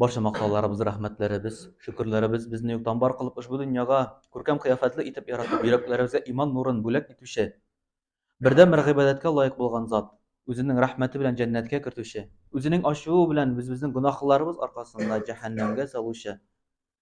Барча мактауларыбыз, рәхмәтләребез, шөкерләребез безне юктан бар кылып ошбу дөньяга күркәм кыяфәтле итеп яратып, йөрәкләребезгә иман нурын бүләк итүче, бердәнбер гыйбадәткә лаек булган Зат, Үзенең рәхмәте белән җәннәткә кертүче, Үзенең ачуы белән без-безнең гөнаһларыбыз аркасында җәһәннәмгә салучы,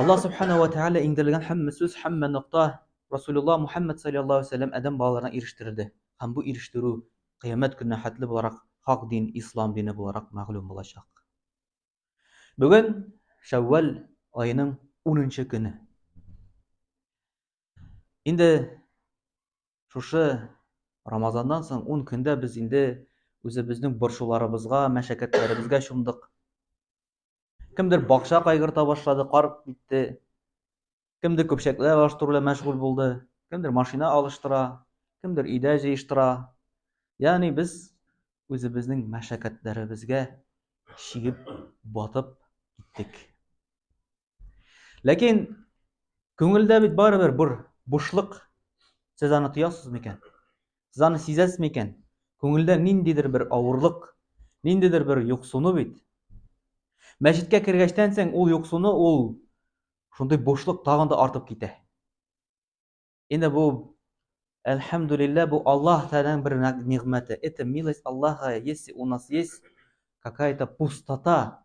Аллаһ Субхана уә Тәгалә иңдерелгән һәммә сүз, һәммә нокта Расулуллаһ Мухәммәд салләллаһу галәйһи уә сәлләм адәм балаларына ирештерелде һәм бу ирештерү Кыямәт көненә хәтле буларак хак дин, Ислам дине буларак мәгълүм булачак. Бүген Шәүвәл аеның унынчы көне. Инде шушы Рамазаннан соң ун көндә без инде үзебезнең борчуларыбызга, мәшәкатьләребезгә чумдык. Кемдер бакча кайгырта башлады, кар китте. Кемдер көпчәкләр алыштыру белән мәшгуль булды. Кемдер машина алыштыра, кемдер өйдә җыештыра. Ягъни без үзебезнең мәшәкатьләребезгә чигеп, батып киттек. Ләкин күңелдә бит барыбер бер бушлык. Сез аны тоясыз микән? Сез аны сизәсез микән? Күңелдә ниндидер бер авырлык, ниндидер бер юксыну бит. Мәчеткә кергәчтән соң ул юксыну, ул шундый бушлык тагын да артып китә. Инде бу Әлхәмдулиллә, бу Аллаһ Тәгаләнең бер нигъмәте. Это милость Аллаха, если у нас есть какая-то пустота,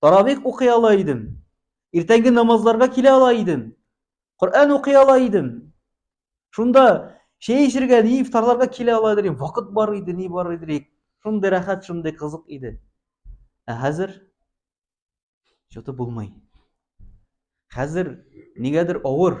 Таравих укый ала идем. Иртәнге намазларга килә ала идем. Коръән укый ала идем. Шунда чәй эчергә, ни ифтарларга килә ала идем. Вакыт бар иде, ни бар иде. Шундый рәхәт, шундый кызык иде. Ә хәзер чөтеп булмый. Хәзер нигәдер авыр.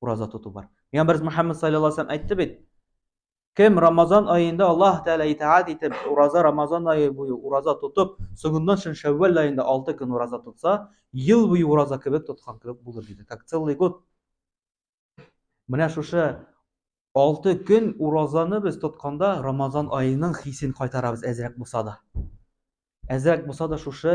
ураза тоту бар. Пәйгамбәрбез Мөхәммәд саллаллаһу алейһи ва сәлләм әйтте бит, Кем Рамазан аенда Аллаһ Тәгалә итаат итеп, ураза Рамазан ае буе ураза тотып, соңыннан шин Шәввәл аенда 6 көн ураза тотса, ел буе ураза кебек тоткан кебек булыр диде. Как целый год. Менә шушы 6 көн уразаны без тотканда Рамазан аеның хисен кайтарабыз әзрәк булса да. Әзрәк булса да шушы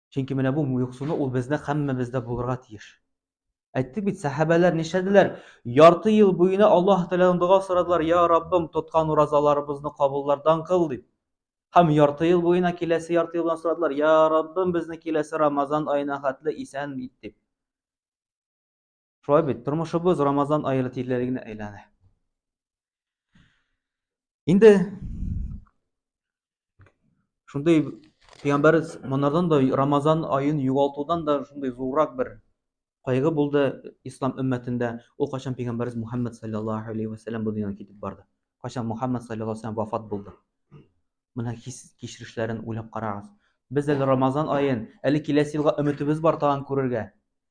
Чөнки менә бу муйыксуны ул бездә һәммәбездә булырга тиеш. Әйттек бит, сәхәбәләр нишләделәр? Ярты ел буена Аллаһ Тәгаләдән дога сорадылар, "Я Раббым, тоткан уразаларыбызны кабуллардан кыл" дип. Һәм ярты ел буена киләсе ярты елдан сорадылар, "Я Раббым, безне киләсе Рамазан аена хәтле исән ит" дип. Шулай бит, тормышыбыз Рамазан айы тирләре генә әйләнә. Инде шундый пәйгамбәрбез монардан да Рамазан аен югалтудан да шундый зуррак бер кайгы булды ислам өммәтендә. Ул качан пәйгамбәрбез Мухаммад саллаллаһу алейхи ва саллям бу дөньядан китеп барды. Качан Мухаммад саллаллаһу алейхи ва саллям вафат булды. Менә кичерешләрен уйлап карагыз. Без әле Рамазан аен, әле киләсе елга өметебез бар тагын күрергә.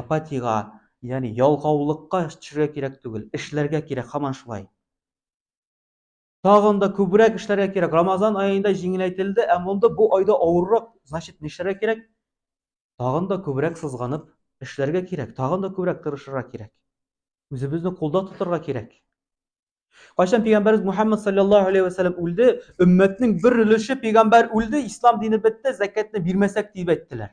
апатиягә, ягъни ялгаулыкка төшәргә кирәк түгел, эшләргә кирәк, һаман шулай. Тагын да күбрәк эшләргә кирәк. Рамазан аенда җиңеләйтелде, ә монда бу айда авыррак. Значит, нишләргә кирәк? Тагын да күбрәк сызганып эшләргә кирәк, тагын да күбрәк тырышырга кирәк. Үзебезне кулда тотарга кирәк. Кайчан пәйгамбәрбез Мухаммад саллаллаһу алейхи ва саллям үлде, өммәтнең бер өлеше пәйгамбәр үлде, ислам дине бетте, закатны бирмәсәк дип әйттеләр.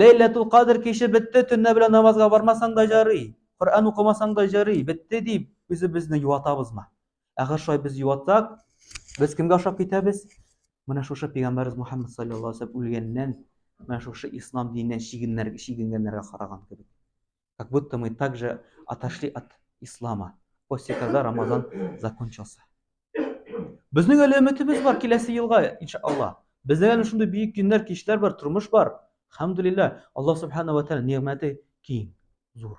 Ләйләтул кадр киче бетте, төнлә белән намазга бармасаң да җары, Коръән укымасаң да җары, бетте дип, үзебезне юатабызмы? Әгәр шулай без юатсак, без кемгә ошап китәбез? Менә шушы пәйгамбәрбез Мухаммад саллаллаһу алейһи ва сәлләм үлгәннән, менә шушы ислам диненнән чигеннәр чигенгәннәргә караган кебек. Как будто мы также отошли от ислама после когда Рамазан закончился. Безнең әле өметебез бар киләсе елга, иншалла. Бездә әле шундый бөек көннәр, кичләр бар, тормыш бар. Хәмдулилла, Аллаһ субхана ва тааля нигъмәте киң, зур.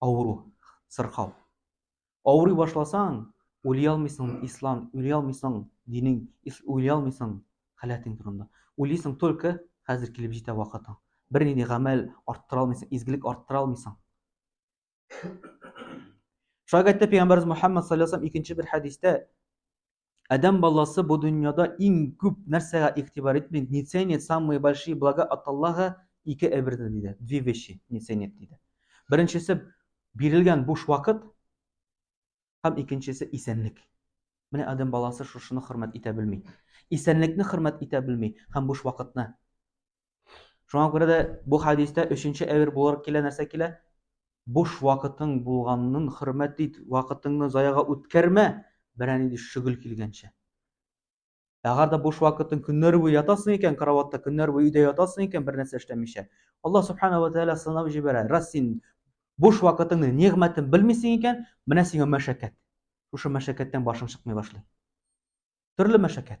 авыру, сырхау. Авырый башласаң, уйлый алмыйсың ислам, уйлый алмыйсың динең, уйлый алмыйсың халәтең турында. Уйлыйсың только хәзер килеп җитә вакытың. Бер нинди гамәл арттыра алмыйсың, изгелек арттыра алмыйсың. Шагатта пәйгамбәрбез Мухаммад саллаллаһу алейһи икенче бер хәдистә Адәм баласы бу дөньяда иң күп нәрсәгә игътибар итми, не ценит самые большие блага от Аллаһа ике әйберне диде. Две вещи не ценит диде. Беренчесе бирелгән буш вакыт һәм икенчесе исәнлек. Менә Адәм баласы шушыны хөрмәт итә белми. Исәнлекне хөрмәт итә белми һәм буш вакытны. Шуңа күрә дә бу хәдистә өченче әвер буларак килә нәрсә килә? Буш вакытың булганын хөрмәт ит, вакытыңны заяга үткәрмә, берән инде шөгыл килгәнчә. Әгәр дә буш вакытың көннәр буе ятасың икән, кроватта көннәр буе өйдә ятасың икән, бер нәрсә эшләмичә. Аллаһ субхана ва тәгалә сынап җибәрә. Раз син буш вакытыңны, нигъмәтен белмисең икән, менә сиңа мәшәкать. Шушы мәшәкатьтән башың чыкмый башлый. Төрле мәшәкать.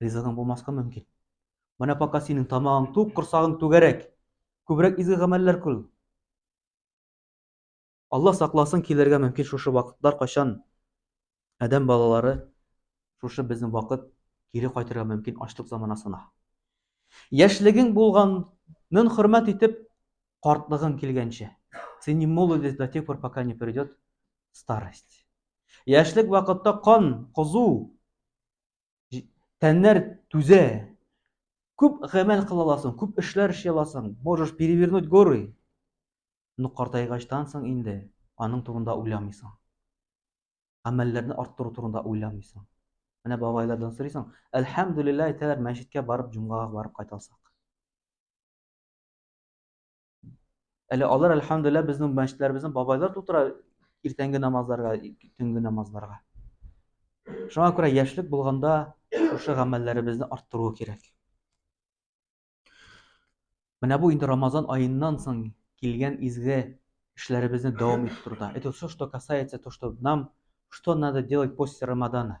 ризадан булмаска мөмкин. Менә пока синең тамагың тук, корсагың түгәрәк. Күбрәк изге гамәлләр күл. Алла сакласын килергә мөмкин шушы вакытлар, кайчан адәм балалары шушы безнең вакыт кире кайтырга мөмкин ачлык заманасына. Яшьлегең булганын хөрмәт итеп, картлыгың килгәнче. Син не молодец до тех пор, пока не придет старость. Яшьлек вакытта кан кызу, тәннәр түзә. Күп гамәл кыла аласың, күп эшләр эшли аласың, можешь перевернуть горы. Но картайгачтан соң инде аның турында уйламыйсың. Гамәлләрне арттыру турында уйламыйсың. Менә бабайлардан сорыйсың, әлхәмдүлилләһ әйтәләр, мәчеткә барып, җомгага барып кайтасак. Әле алар әлхәмдүлилләһ безнең мәчетләребезне бабайлар тутыра иртәнге намазларга, төнге намазларга. Шуңа күрә яшьлек булганда шушы гамәлләребезне арттыру кирәк. Менә бу инде Рамазан аеннан соң килгән изге эшләребезне дәвам иттерүдә. Это все, что касается то, что нам, что надо делать после Рамадана.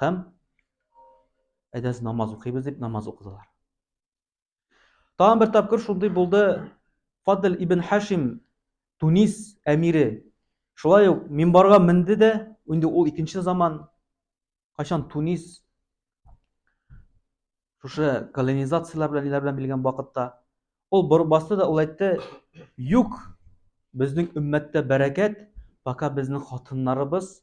һәм әйдәгез намаз укыйбыз дип намаз укыдылар. Тагын бер тапкыр шундый булды Фадль ибн Хашим Тунис әмире шулай ук минбарга менде дә, инде ул икенче заман кайчан Тунис шушы колонизацияләр белән ниләр белән билгән вакытта ул борып басты да ул әйтте, "Юк, безнең өммәттә бәрәкәт, пока безнең хатыннарыбыз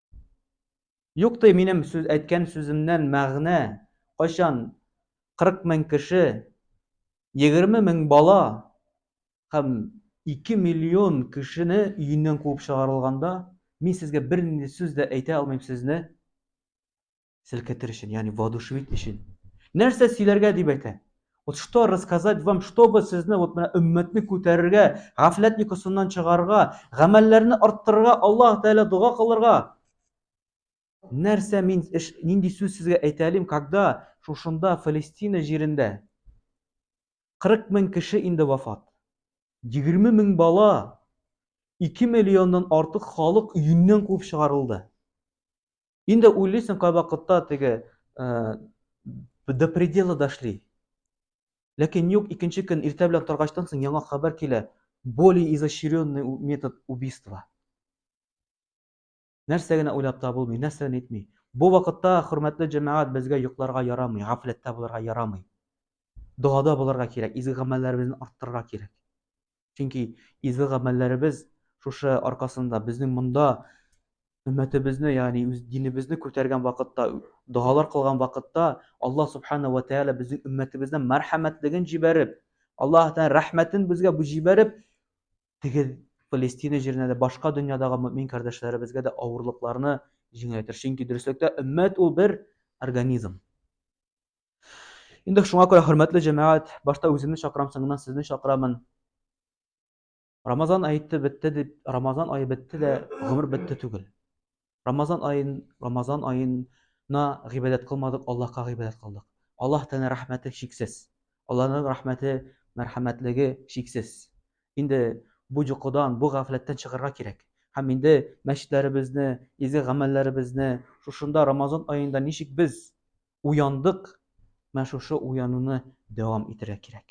Юк ди минем сүз әйткән сүземнән мәгънә, кайчан 40 мең кеше, 20 мең бала һәм 2 миллион кешене өеннән куып чыгарылганда, мин сезгә бернинди сүз дә әйтә алмыйм сезне селкетер өчен, ягъни воодушевить өчен. Нәрсә сөйләргә дип әйтә? Вот что рассказать вам, чтобы сезне вот менә өммәтне күтәрергә, гафләт йокысыннан чыгарга, гамәлләрне арттырырга, Аллаһ Тәгалә дога кылырга. Нәрсә мин эш, нинди сүз сезгә әйтә алим, когда шушында Фалестина җирендә 40 мең кеше инде вафат. 20 мең бала, 2 миллионнан артык халык өеннән куып чыгарылды. Инде уйлыйсың кайвакытта теге э, до предела дошли. Ләкин юк, икенче көн иртә белән торгачтан соң яңа хәбәр килә. Более изощренный метод убийства. Нәрсә генә уйлап табылмый, нәрсә генә әйтми. Бу вакытта хөрмәтле җәмәгать безгә йокларга ярамый, гафләттә булырга ярамый. Догада булырга кирәк, изге гамәлләребезне арттырырга кирәк. Чөнки изге гамәлләребез шушы аркасында безнең монда өммәтебезне, ягъни үз динебезне күтәргән вакытта, догалар кылган вакытта Аллаһ субхана ва тәала безнең өммәтебездә мәрхәмәтлеген җибәреп, Аллаһ тәала рәхмәтен безгә бу җибәреп, теге Палестина җиренә дә башка дөньядагы мөмин кардәшләребезгә дә авырлыкларны җиңеләйтер. Чөнки дөреслектә өммәт ул бер организм. Инде шуңа күрә хөрмәтле җәмәгать, башта үземне чакырам, соңыннан сезне чакырамын. Рамазан ае бетте дип, Рамазан ае бетте дә, гомер бетте түгел. Рамазан аен, Рамазан аена гыйбадәт кылмадык, Аллаһка гыйбадәт кылдык. Аллаһ Тәгалә рәхмәте чиксез. Аллаһның рәхмәте, мәрхәмәтлеге чиксез. Инде бу йокыдан, бу гафләттән чыгарга кирәк. Һәм инде мәчетләребезне, изге гамәлләребезне, шушында Рамазан аенда ничек без уяндык, менә шушы уянуны дәвам итәргә кирәк.